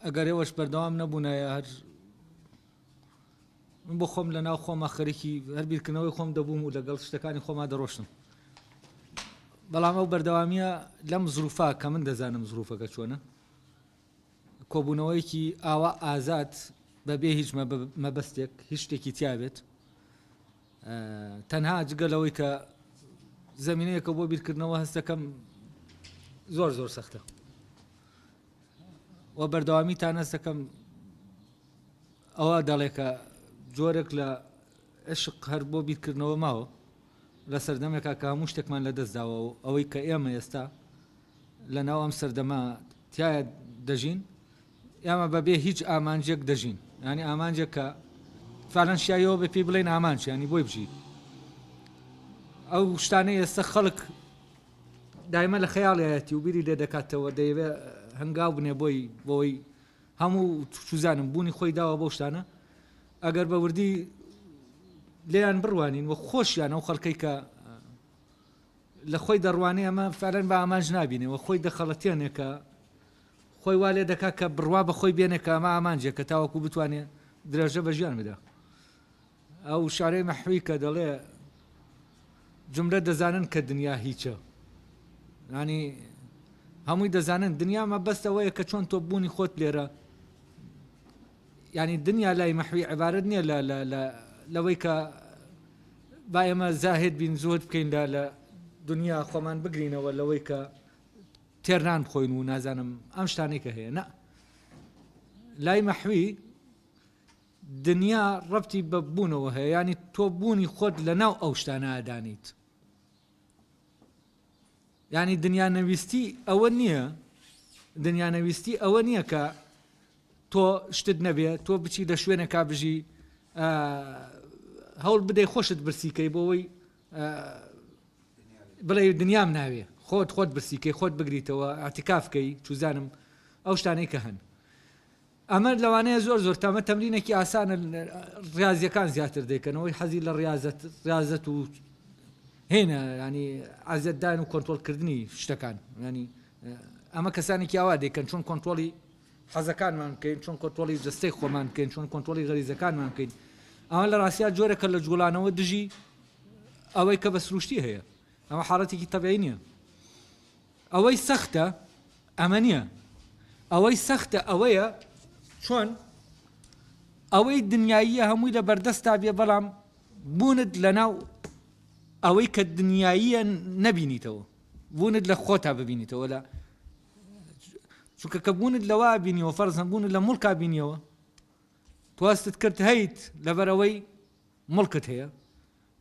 ئەگەر ئێوەش بەردەوام نەبوونایە هەر من بۆ خۆم لە ناو خۆمە خەرکی هەر بیرکردنەوەی خۆم دەبووم و لەگەڵ شتەکانی خۆما دەڕۆشتم بەڵام ئەو بەردەوامیە لەم زروفا کە من دەزانم زروفەکە چۆنە کۆبوونەوەیەکی ئاوا ئازاد بەبێ هیچ مەبەستێک هیچ شتێکی تیاابێت تەنها جگە لەوەی کە زەمینەیەکە بۆ بیرکردنەوە هەستەکەم زۆر زۆر سەختە و بەردەوامی تا نەستەکەم ئەوە دەڵێکە جۆرێک لە عشق هەر بۆ بیرکردنەوە ماوە لە سەردەمێکا کە هەموو شتێکمان لە دەستداوە و ئەوەی کە ئێمە ئێستا لە ناو ئەم سەردەما تایە دەژین ئێمە بە بێ هیچ ئامانجێک دەژین یانی ئامانجێک کە فعلەن شیاویەوە بێ پێی بڵێن ئامانج ینی بۆی بژیت ئەو شتانە ئێستا خەڵک دایمە لە خەیاڵایەتی و بیری لێ دەکاتەوە دەیەوێ هەنگاو بنێ بۆی بۆی هەموو چوزانم بوونی خۆی داوە بۆ شتانە ئەگەر بە وردی لێیان بڕوانین و خۆشیان ئەو خەڵکەی کە لە خۆی دەڕوانێ ئەمە فەرەن بە ئامانج نبینەوە خۆی دەخەڵەتێنێکە خۆی وا لێ دەکات کە بڕوا بە خۆی بێنێ کە ئەمە ئامانجێکە تاوەکو بتوانێ درێژە بە ژیان بدا. ئەو وشارەی مەحوی کە دەڵێ جملە دەزانن کە دنیا هیچە. یانی هەمووی دەزانن دنیا مەبەست ئەوەیە کە چۆن تۆ بوونی خۆت لێرە یانی دنیا لای مەحوی عبارەت نییە لە لە لە لەوەی کە با ئێمە زاهد بین زۆر بکەین لە لە دنیا خۆمان بگرینەوە لەوەی کە تێر نان بخۆین و نازانم ئەم شتانەی کە هەیە نا لای مەحوی دنیا ڕەتی بە بوونەوە هەیە ینی تۆ بوونی خۆت لە ناو ئەو شتانەدانیت ینی دنیا نەویستی ئەوە نییە دنیا نەویستی ئەوە نییە کە تۆ شتت نەبێت تۆ بچی لە شوێنێکا بژی هەوڵ بدەی خۆشت برسیکەی بۆەوەی بڵێی دنیام ناوێ خۆت خۆت برسی کەی خۆت بگریتەوە ئاتیکاف کەی چوزانم ئەو شتانەی کە هەن ئەمە لەوانەیە زۆر زۆر تامە تەمرینێکی ئاسانە ڕاضیەکان زیاتر دەکەنەوەی حەزی لە ڕاضەت ڕاضەت و هێنە ینی ئازدان و کۆنتۆلکردنی شتەکان ینی ئەمە کەسانێکی ئاوا دەکەن چۆن کۆنتۆلی حەزەکانمان بکەین، چۆن کۆنترۆڵی جەستەی خۆمان بکەین، چۆن کۆنترۆڵی غەریزەکانمان بکەین، ئەمە لە ڕاستیا جۆرێکە لە جووڵانەوە دژی ئەوەی کە بە سرووشتی هەیە، ئەمە حاڵەتێکی تەبیعی نییە. ئەوەی سەختە ئەمە نییە، ئەوەی سەختە ئەوەیە چۆن ئەوەی دنیاییە هەمووی لە بەردەستتا بێ بەڵام بوونت لەناو ئەوەی کە دنیاییە نەبینیتەوە، بوونت لە خۆتا ببینیتەوە، لە. چونکە کە بوونت لەوا بینیەوە فەرزەن بوونت لە مڵکا بینیەوە تواستت کرد هەیت لەبەرەوەی مڵکت هەیە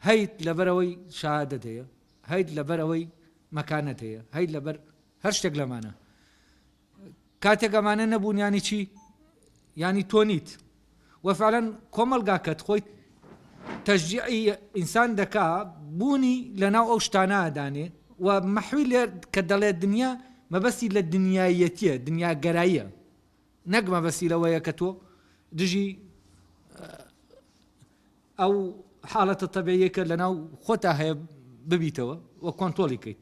هەیت لەبەرەوەی شادت هەیە هەیت لەبەرەوەی مەکانەت هەیە هەیت لەبەر هەر شتێک لەمانە کاتێک ئەمانە نەبوون ینی چی ینی تۆ نیت وە فعلەن کۆمەڵگا کەت خۆی تەشجیعی ئینسان دەکا بوونی لەناو ئەو شتانە دانێ و مەحوی لێ کە دەڵێ دنیا مەبەستی لە دنیایەتیە دنیا گەراییە نەک مەبەستی لەوەیە کە تۆ دژی ئەو حاڵەتە تەبێیەکە لەناو خۆتا هەیە ببیتەوە و کۆنتۆڵی کەیت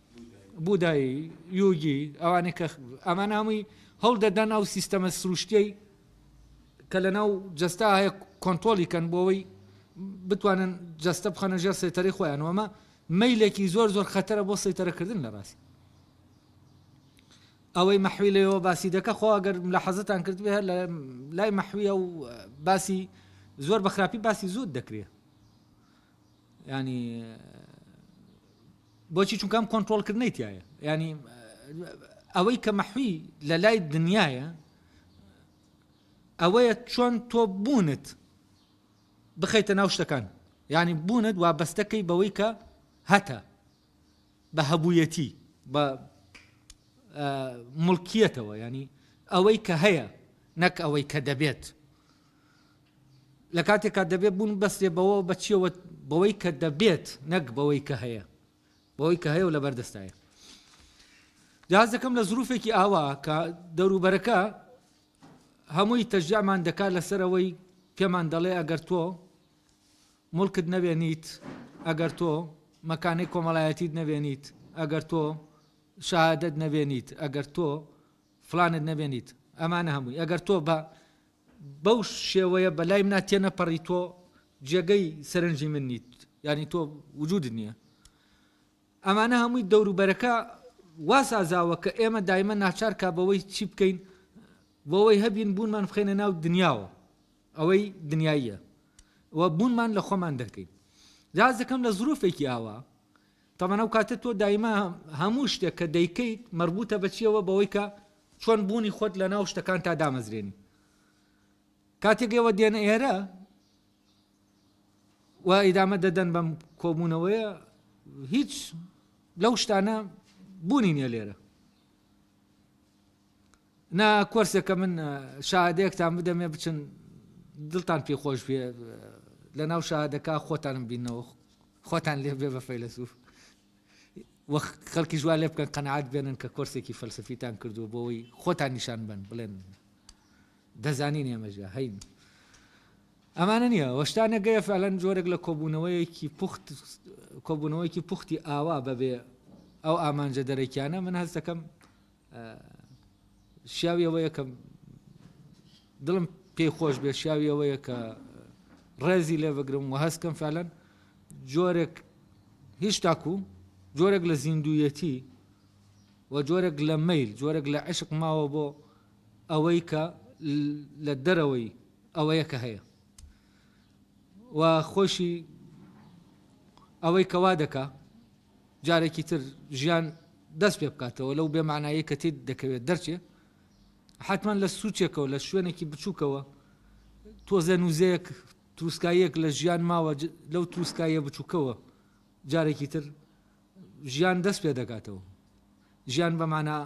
بودایی، یوگی، ئەوانەی کە ئەمانە هەمووی هەڵدەدەن ئەو سیستەمە سروشتیەی کە لەناو جەستا هەیە کۆنتۆڵی کەن بۆەوەی بتوانن جەستە بخەنە ژێر سێتەری خۆیان وەمە مەیلێکی زۆر زۆر خەتەرە بۆ سەیتەرەکردن لە ڕاست ئەوەی مەحوی لەوە باسی دەکە خۆ ئەگەر لە حەزتان کرد بێ لە لای مەحویە و باسی زۆر بە خراپی باسی زود دەکرێت یانی بۆچی چونکە ئەم کۆنتترۆلکردنەی تایە ینی ئەوەی کە مەحوی لە لای دنیاە ئەوەیە چۆن تۆ بوونت بخەیتە ناو شتەکان ینی بوونت وا بەستەکەی بەوەی کە هەتە بە هەبوویەتی بە ملکیەتەوە ینی ئەوەی کە هەیە نەک ئەوەی کە دەبێت لە کاتێکا دەبێت بوونببەسترێت بەوە، بە چییەوە؟ بەوەی کە دەبێت، نەک بەوەی کە هەیە. بەوەی کە هەیە و لەبەردەستایە. جا هەست دەکەم لە زرووفێکی ئاوا کە دەوروبەرەکە هەمووی تەشجیعمان دەکات لەسەر ئەوەی پێمان دەڵێ ئەگەر تۆ موڵکت نەبێنیت، ئەگەر تۆ مەکانەی کۆمەڵایەتیت نەبێنیت، ئەگەر تۆ شەهادەت نەبێنیت، ئەگەر تۆ، فلانت نەبێنیت ئەمانە هەمووی ئەگەر تۆ بە بەو شێوەیە بە لای منا تێنەپەڕی تۆ جێگەی سەرنجی من نیت یعنی تۆ وجودت نییە ئەمانە هەمووی دەوروبەرەکە واسازاوە کە ئێمە دایمە ناچارکە بەوەی چی بکەین بۆەوەی هەبین بوونمان بخێنە ناو دنیاوە ئەوەی دنیاییە و بوونمان لە خۆمان دەکەین جاز دەکەم لە زروفێکی ئاوا تەمان ئەو کاتە تۆ دایمە هەموو شتێک کە دەیکەیت مەربوتە بە چیەوە بەوەی کە چۆن بوونی خۆت لە ناو شتەکان تا دامەزرێنی کاتێک ئێوە دێنە ئێرە و ئیدامە دەدەن بەم کۆبوونەوەیە هیچ لەو شتانە بوونی نیە لێرە نا کۆرسێکە من شاهادەیەکتان بدەمێ بچن دڵتان پێ خۆش بێ لە ناو شاهادەکە خۆتانم بینەوە خۆتان لێ بێ بە فەیلەسوف وەخ خەڵکی ژوا لێ بکەن قەنەعات بێنن کە کۆرسێکی فەلسفیتان کردووە بۆەوەی خۆتان نیشان بن بڵێن دەزانین ئێمەژە هەین ئەمانە نییە وەشتانە گەیە فعلەن جۆرێک لە کۆبوونەوەیەکی پوخت کۆبوونەوەیەکی پوختی ئاوا بەبێ ئەو ئامانجە دەرەکیانە من هەستەکەم شیاوی ئەوەیە کە دڵم پێی خۆش بێ شیاوی ئەوەیە کە ڕێزی لێ بگرم و هەستکەم فعلەن جۆرێک هیچ تاکو جۆرێک لە زیندویەتی و جۆرێک لە میل جۆرێک لە عشق ماوە بۆ ئەوەی کە لە دەرەوەی ئەوەیە کە هەیە و خۆشی ئەوەی کەوا دەکا جارێکی تر ژیان دەست پێ بکاتەوە لەو بێ مەعنایەی کە تێید دەکەوێت دەرچێ حەتمەن لە سوچێکەوە لە شوێنێکی بچووکەوە تۆزێ نوزەیەک تروسکاییەک لە ژیان ماوە لەو تروسکاییە بچووکەوە جارێکی تر ژیان دەست پێ دەکاتەوە ژیان بە مانا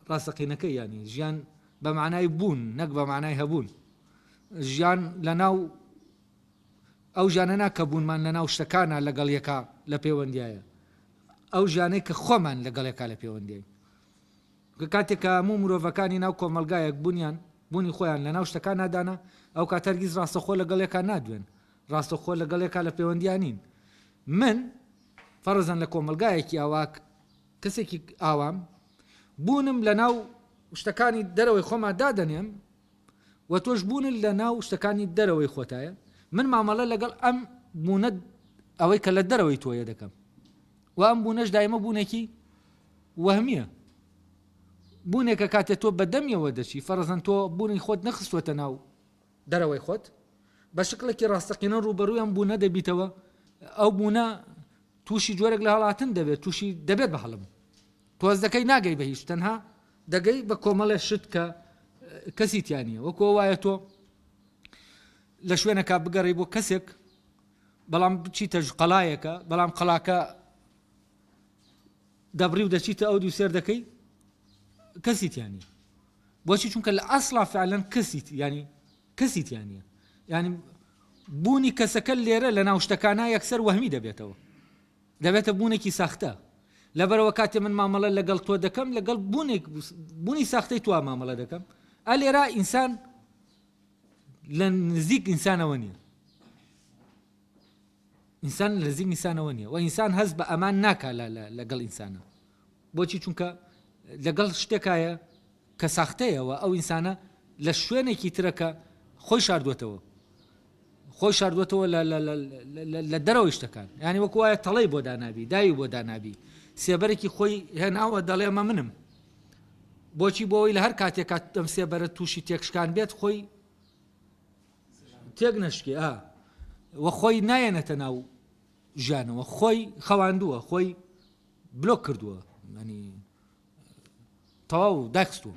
ڕاستەقینەکە یانی ژیان بە مانای بوون نەک بە مانای هەبوون ژیان لە ناو ئەو ژیانەنا کە بوونمان لە ناو شتەکانا لە گەڵ یەکا لە پێوەندیایە ئەو ژیانەی کە خۆمان لە گەڵ یەکا لە پێوەندیاین کە کاتێک کە هەموو مرۆڤەکانی ناو کۆمەڵگایەک بوونیان بوونی خۆیان لە ناو شتەکانا دانا ئەو کات هەرگیز ڕاستەخۆ لە گەڵ یەکا نادوێن ڕاستەخۆ لە گەڵ یەکا لە پێوەندیا نین من فەرزەن لە کۆمەڵگایەکی ئاوا کەسێکی ئاوام بوونم لە ناو شتەکانی دەرەوەی خۆما دادەنێم و تۆش بوونت لە ناو شتەکانی دەرەوەی خۆتایە، من مامەڵە لەگەڵ ئەم بوونە ئەوەی کە لە دەرەوەی تۆیە دەکەم و ئەم بوونەش دایمە بوونێکی وەهمییە بوونێکە کاتێ تۆ بە دەمیەوە دەچی فەرەزەن تۆ بوونی خۆت نەخستوەتە ناو دەرەوەی خۆت بە شکلێکی ڕاستەقینە ڕووبەڕووی ئەم بوونە دەبیتەوە ئەو بوونە تووشی جۆرێک لە هەڵاتن دەبێت تووشی دەبێت بە هەڵم تۆز دەکەی ناگەی بە هیچ تەنها دەگەی بە کۆمەڵێ شت کە کەسی تیا نییە وەکو وایە تۆ لە شوێنەکە بگەڕی بۆ کەسێک بەڵام بچیتە قەڵایەکە بەڵام قەڵاکە دەبڕی و دەچیتە ئەو دوو سێر دەکەی کەسی تیانی بۆچی چونکە لە ئەسڵا فعلەن کەسیت ینی کەسی تیانە ینی بوونی کەسەکە لێرە لە ناوشتەکانە یەکسەر وەهمی دەبێتەوە دەبێتە بوونێکی ساختە. لەبەرئەوە کاتێ من مامەڵە لەگەڵ تۆ دەکەم لەگەڵ بوونێک بوونی ساختەی تۆوە مامەڵە دەکەم. ئا لێرە ئینسان لە نزیک ئینسانەوە نییە. ئینسان لە نزیک ئینسانەوە نییە و ئینسان هەست بە ئەمان ناکا لەگەڵ ئینسانە. بۆچی چونکە لەگەڵ شتێکایە کە ساختەیە وە ئەو ئینسانە لە شوێنێکی ترە کە خۆی شاردووەتەوە خۆی شاردووەتەوە لە لە لە لە لە دەرەوەی شتەکان یانی وەکو وایە تەڵەی بۆ دانابی داوی بۆ دانابی سێبەرێکی خۆی هێناوە دەڵێ ئەمە منم بۆچی بۆەوەی لە هەر کاتێک کات دەم سێبەرە تووشی تێکشکان بێت خۆی تێک نەشکێ ئا وە خۆی نایەنەتە ناو ژیانەوە خۆی خەواندووە خۆی بلۆک کردووە ینی تەواو داکستوە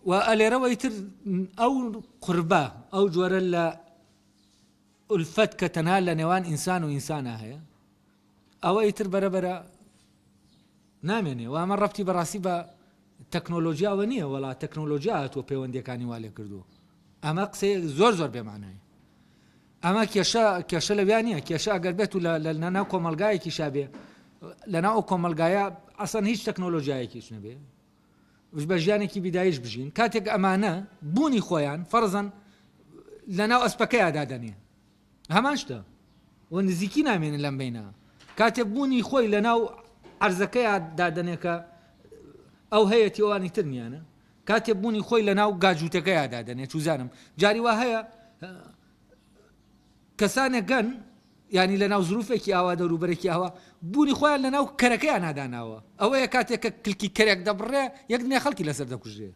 و ئەلێرەوە ئیتر ئەو قوربە ئەو جۆرە لە ئولفەت کە تەنها لە نێوان ئینسان و ئینسانە هەیە ئەوە ئیتر بەرەبەرە نامێنێ و ئەمە ڕەتی بەڕاستی بە تەکنۆلۆژیاوە نییە وڵا تەکنۆلۆژیا هاتووە پەیوەندەکانی والێ کردووە ئەمە قسەیە زۆر زۆر بێمانای ئەمە کێشە کێشە لەویا نیە کێشە ئەگەر بێت و لە ناو کۆمەلگایەکیشا بێ لەناو ئەو کۆمەلگایە ئەسەن هیچ تەکنۆلۆژیایەکیش نەبێ وش بە ژیانێکی بیدایش بژین کاتێک ئەمانە بوونی خۆیان فەرزەن لە ناو ئەسپەکەیادا دەنێ هەمان شتە و نزیکی نامێنە لەم بینە کاتێک بوونی خۆی لە ناو عرزەکەیان دادنێکە ئەو هەیەتیوانی ترنیانە کاتێ بونی خۆی لە ناو گاجوتەکەیا دادەنێ چوزانم جاری وا هەیە کەسانێک گەن ینی لە ناو زروفێکی ئاوا دەوروبەرێکی ئاوا بوونی خۆیان لە ناو کەرەکەیان ناداناوە ئەوەیە کاتێک کە کلکی کەرێک دەبڕێ یەک دنیا خەڵکی لەسەر دەکوژێ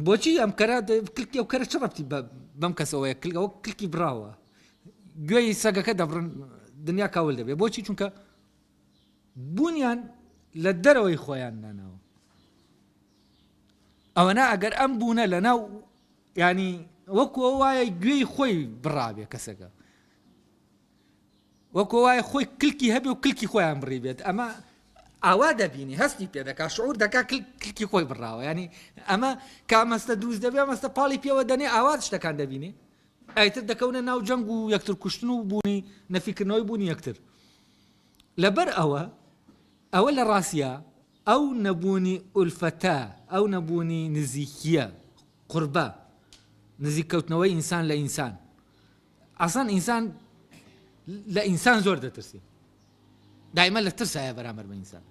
بۆچی ئەم کەرە کلکی ئەو کەرە چ ڕەتی بەم کەسەوەیە کلگەوە کلکی براوە گوێی سەگەکە دەبڕن دنیا کاول دەبێ بۆچی چونکە بوونیان لە دەرەوەی خۆیان داناوە ئەوەنا ئەگەر ئەم بوونە لە ناو ینی وەکۆ وایە گوێی خۆی بڕابێ کەسەکە وەکۆ وایە خۆی کلکی هەبێ و کلکی خۆیان بڕی بێت ئەمە ئاوا دەبینی هەستی پێ دەکا شعور دەکا کلکی خۆی بڕاوە ینی ئەمە کامەستە دروست دەبێ مەستە پاڵی پێوە دەنێ ئاوا شتەکان دەبینێ ئایتر دەکەونە ناو جەنگ و یەکتر کوشتن و بوونی نەفیکردنەوەی بوونی یەکتر لەبەر ئەوە ئەوە لە ڕاستیا ئەو نەبوونی ئولفەتە، ئەو نەبوونی نزیکییە، قربە، نزیک کەوتنەوەی ئینسان لە ئینسان، ئەسڵەن ئینسان لە ئینسان زۆر دەترسێ، دایمە لە ترسا هەیە بەرامبەر بە ئینسان،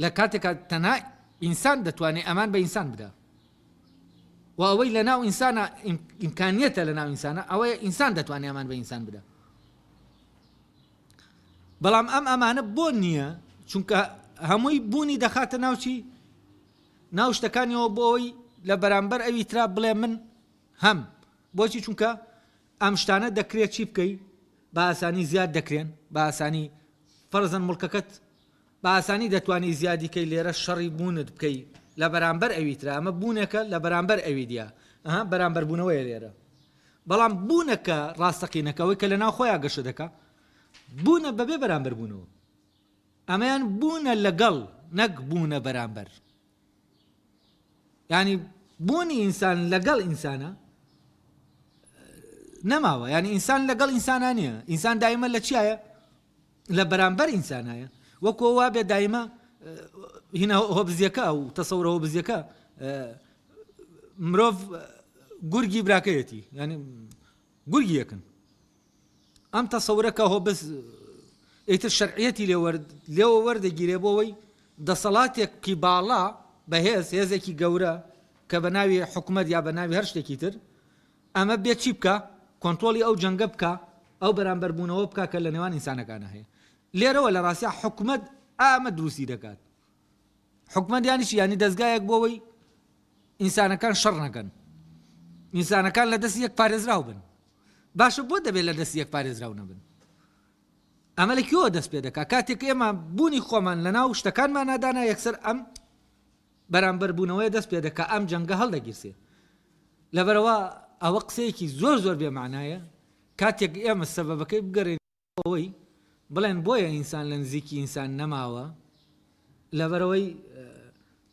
لە کاتێکا تەنها ئینسان دەتوانێ ئەمان بە ئینسان بدا و ئەوەی لەناو ئینسانە ئیمکانیەتە لەناو ئینسانە ئەوەیە ئینسان دەتوانێ ئەمان بە ئینسان بدا. بەڵام ئەم ئەمانە بۆ نییە چونکە هەمووی بوونی دەخاتە ناوچی ناو شتەکانیەوە بۆ ئەوی لە بەرامبەر ئەوی ترا بڵێ من هەم بۆچی چونکە ئەم شتانە دەکرێت چی بکەی بە ئاسانی زیاد دەکرێن بە ئاسانی فەرزن مڵکەکەت بە ئاسانی دەتوانانی زیادیکەی لێرە شەڕی بوونت بکەی لە بەرامبەر ئەوی ترا ئەمە بوونێکە لە بەرامبەر ئەوی دیە ئەها بەرامبەربوونەوەی لێرە بەڵام بوونە کە ڕاستەقینەکە ئەوەی کە لەناو خۆیان گەشە دەکا بوونە بەبێ بەرامبەر بوونەوە ئەمەیان بوونە لەگەڵ نەک بوونە بەرامبەر ینی بوونی ئینسان لەگەڵ ئینسانە نەماوە ینی ئینسان لەگەڵ ئینسانە نیە ئینسان دایمە لە چیایە لە بەرامبەر ئینسانایە وەکۆ وابێ دایمە هینا هۆبزیەکە و تەسەورە هۆبزیەکە مرۆڤ گورگی براکەیەتی ینی گورگی یەکن ئەم تەسەورەکە هۆ بس ئیتر شەرعەتی لێ لێەوە وەردەگیرێ بۆەوەی دەسەڵاتێکی باڵا بەهێز هێزێکی گەورە کە بە ناوی حکومت یا بە ناوی هەر شتێکی تر ئەمە بێ چی بکا؟ کۆنترۆڵی ئەو جەنگە بکا، ئەو بەرامبەربوونەوە بکا کە لە نێوان ئینسانەکانا هەیە. لێرەوە لە ڕاستیا حکومەت ئامە دروستی دەکات. حکومەت یانی چی؟ یانی دەزگایەک بۆ ئەوەی ئینسانەکان شەڕ نەکەن. ئینسانەکان لە دەستی یەک پارێزراو بن. باشە بۆ دەبێت لە دەستی یەک پارێزراو نەبن؟ ئەمە لە کوێوە دەست پێ دەکات؟ کاتێک ئێمە بوونی خۆمان لەناو شتەکانمانا دانا یەکسەر ئەم بەرامبەربوونەوەیە دەست پێ دەکا ئەم جەنگە هەڵدەگیرسێ لەبەرئەوە ئەوە قسەیەکی زۆر زۆر بێ مەعنایە کاتێک ئێمە سەبەبەکەی بگەرێنینەوە ئەوەی بڵێن بۆیە ئینسان لە نزیکی ئینسان نەماوە لەبەرئەوەی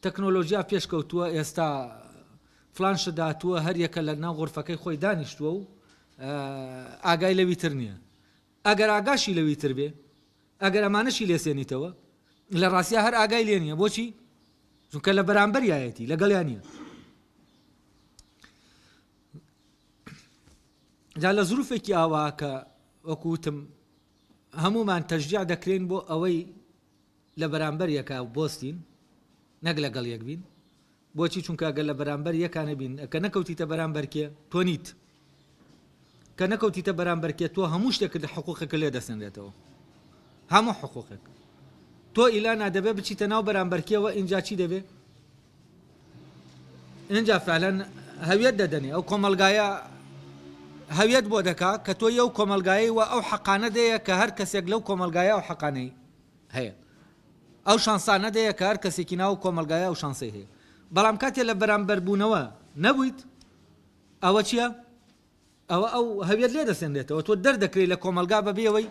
تەکنۆلۆژیا پێشکەوتووە ئێستا فلان شت داتووە هەر یەکە لە ناو غرفەکەی خۆی دانیشتووە و ئاگای لەوی تر نییە ئەگەر ئاگاشی لەوی تر بێ ئەگەر ئەمانەشی لێ سێنیتەوە لە ڕاستیا هەر ئاگای لێ نییە بۆچی چونکە لە بەرامبەریایەتی لەگەڵیان نییە جا لە زروفێکی ئاوا کە وەکوتم هەمومان تەژجیا دەکرێن بۆ ئەوەی لە بەرامبەر یەکە بۆستین نەک لەگەڵ یەک بین بۆچی چونکە گەر لە بەرامبەر یەکانە بین کە نەکەوتیتە بەرامبەر کێ تۆ نیت کە نەکەوتیتە بەرامبەر کێ تۆ هەموو شتێکت لە حقوقەکە لێ دەسەنرێتەوە هەموو حقوقێک تۆ ئیلا نادەبێ بچیتە ناو بەرامبەر کێوە ئینجا چی دەبێ ئینجا فعلەن هەویەت دەدەنێ ئەو کۆمەلگایە هەویەت بۆ دەکا کە تۆ یە و کۆمەلگایی و ئەو حەقانە دەیە کە هەر کەسێک لەو کۆمەلگایە و حەقانەی هەیە ئەو شانسە نەدەیە کە هەر کەسێکی ناو ئەو کۆمەڵگایە ئەو شانسەی هەیە. بەڵام کاتێ لە بەرامبەربوونەوە نەبوویت، ئەوە چییە؟ ئەوە ئەو هەویەت لێ دەسێنرێتەوە، تۆ دەردەکرێی لە کۆمەڵگا بەبێ ئەوەی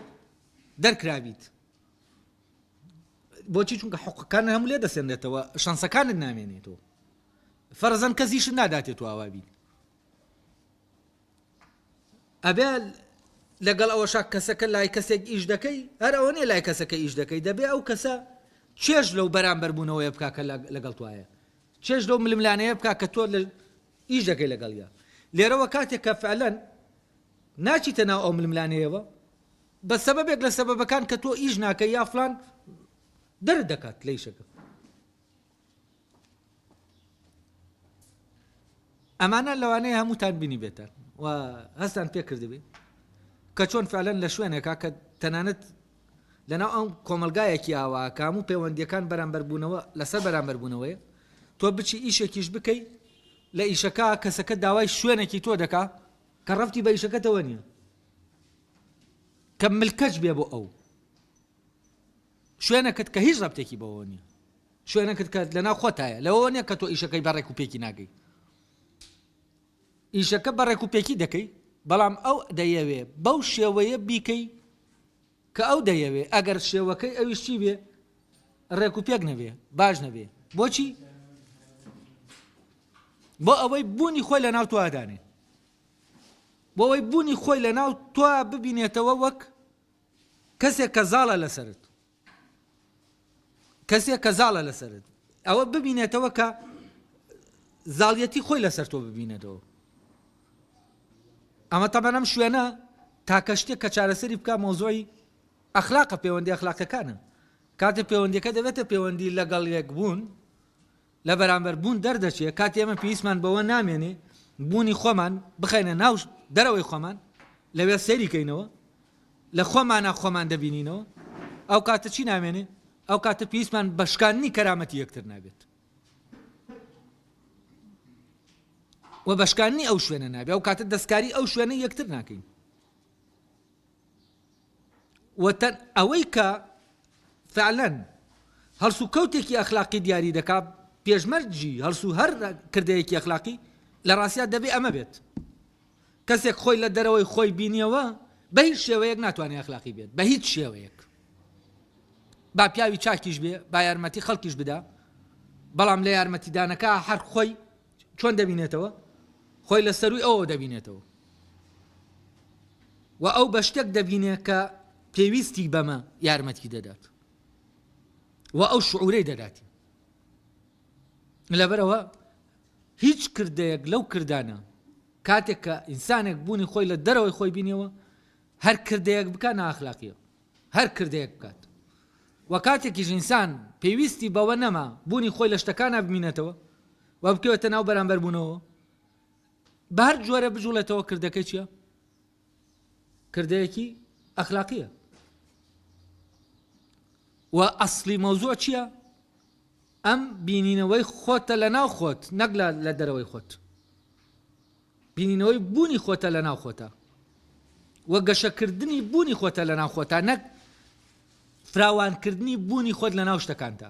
دەرکرابیت. بۆچی؟ چونکە حوقەکانت هەموو لێ دەسێنرێتەوە، شانسەکانت نامێنێتەوە. فەرزەن کەسیشت ناداتێ تۆ ئاوا بیت. ئەبێ لەگەڵ ئەوەشا کەسەکە لای کەسێک ئیش دەکەی هەر ئەوە نیە لای کەسەکە ئیش دەکەی دەبێ ئەو کەسە چێژ لەو بەرامبەر بوونەوەی بک کە لەگەڵ توایە چێژ لەو ململانەیە بک کە تۆ لە ئیش دەکەی لەگەڵە لێرەوە کاتێک کە فعلەن ناچیتە ناو ئەو ململانەیەوە بە سەبەبێک لە سەبەبەکان کە تۆ ئیش ناکە یافلان دەر دەکات لەیشەکە ئەمانە لەوانەیە هەمووتان بینیبێتن و هەستان پێ کردبی کە چۆن فعلەن لە شوێنێکا کە تەنانەت لەناو ئەم کۆمەلگایەکی ئاوا کە هەموو پەیوەندیەکان بەرامبەربوونەوە لەسەر بەرامبەربوونەوەیە تۆ بچی ئیشێکیش بکەی لە ئیشەکە کەسەکە داوای شوێنێکی تۆ دەکا کە ڕفتی بە ئیشەکەتەوە نییە کە ملکەچ بێ بۆ ئەو شوێنەکت کە هیچ ڕەبتێکی بەوەوە نیە شوێنەکت کە لەناو خۆتایە لەوەوە نیە کە تۆ ئیشەکەی بە ڕێک و پێکی ناگەی ئیشەکە بە ڕێک و پێکی دەکەی بەڵام ئەو دەیەوێ بەو شێوەیە بیکەی کە ئەو دەیەوێ ئەگەر شێوەکەی ئەویش چی بێ ڕێک و پێک نەبێ باش نەبێ بۆچی بۆ ئەوەی بوونی خۆی لە ناو توادانێ بۆ ئەوەی بوونی خۆی لە ناو توا ببینێتەوە وەک کەسێک کە زاڵە لەسەرت کەسێک کە زاڵە لەسەرت ئەوە ببینێتەوە کە زاڵیەتی خۆی لەسەر تۆ ببینێتەوە ئەمە تەبەنەم شوێنە تاکە شتێک کە چارەسەری بکە مۆزۆی ئەخلاقە پەیوەندی ئەخلاقەکانە کاتێ پەیوەندیەکە دەبێتە پەیوەندی لەگەڵ یەک بوون لە بەرامبەر بوون دەردەچێت کاتێ ئێمە پێویستمان بەوە نامێنێ بوونی خۆمان بخەینە ناو دەرەوەی خۆمان لەوێ سەیری کەینەوە لە خۆمانە خۆمان دەبینینەوە ئەو کاتە چی نامێنێ ئەو کاتە پێویستمان بە شکاندنی کەرامەتی یەکتر نابێت و بەشکانی ئەو شوێنە نابێ ئەو کاتە دەستکاری ئەو شوێنە یەکتر ناکەین وتن، ئەوەی کە فعلەن هەڵسوکەوتێکی ئەخلاقی دیاری دەکا پێشمەرجی هەڵسو هەر کردەیەکی ئەخلاقی لە ڕاستیا دەبێ ئەمە بێت کەسێک خۆی لە دەرەوەی خۆی بینیەوە بە هیچ شێوەیەک ناتوانێت ئەخلاقی بێت بە هیچ شێوەیەک با پیاوی چاکیش بێ با یارمەتی خەڵکیش بدا بەڵام لە یارمەتیدانەکە هەر خۆی چۆن دەبینێتەوە؟ خۆی لە سەرووی ئەوەوە دەبینێتەوە و ئەو بە شتێک دەبینێت کە پێویستی بەمە یارمەتی دەدات و ئەو شعورەی دەداتی لەبەرەوە هیچ کردەیەک لەو کردانە کاتێک کە ئینسانێک بوونی خۆی لە دەرەوەی خۆی بینیەوە هەر کردەیەک بکە ناخلاقیە هەر کردەیەک بکات و کاتێکیش ئینسان پێویستی بەوە نەما بوونی خۆی لە شتەکانا بمینێتەوە و بکەوێتە ناو بەرامبەر بوونەوە بە هەر جۆرە بجوڵێتەوە کردەکە چیە کردەیەکی ئەخلاقیە و ئەسلی مەوزوع چییە ئەم بینینەوەی خۆتە لە ناو خۆت نەک لە لە دەرەوەی خۆت بینینەوەی بوونی خۆتە لە ناو خۆتە و گەشەکردنی بوونی خۆتە لە ناو خۆتە نەک فراوانکردنی بوونی خۆت لە ناو شتەکانتە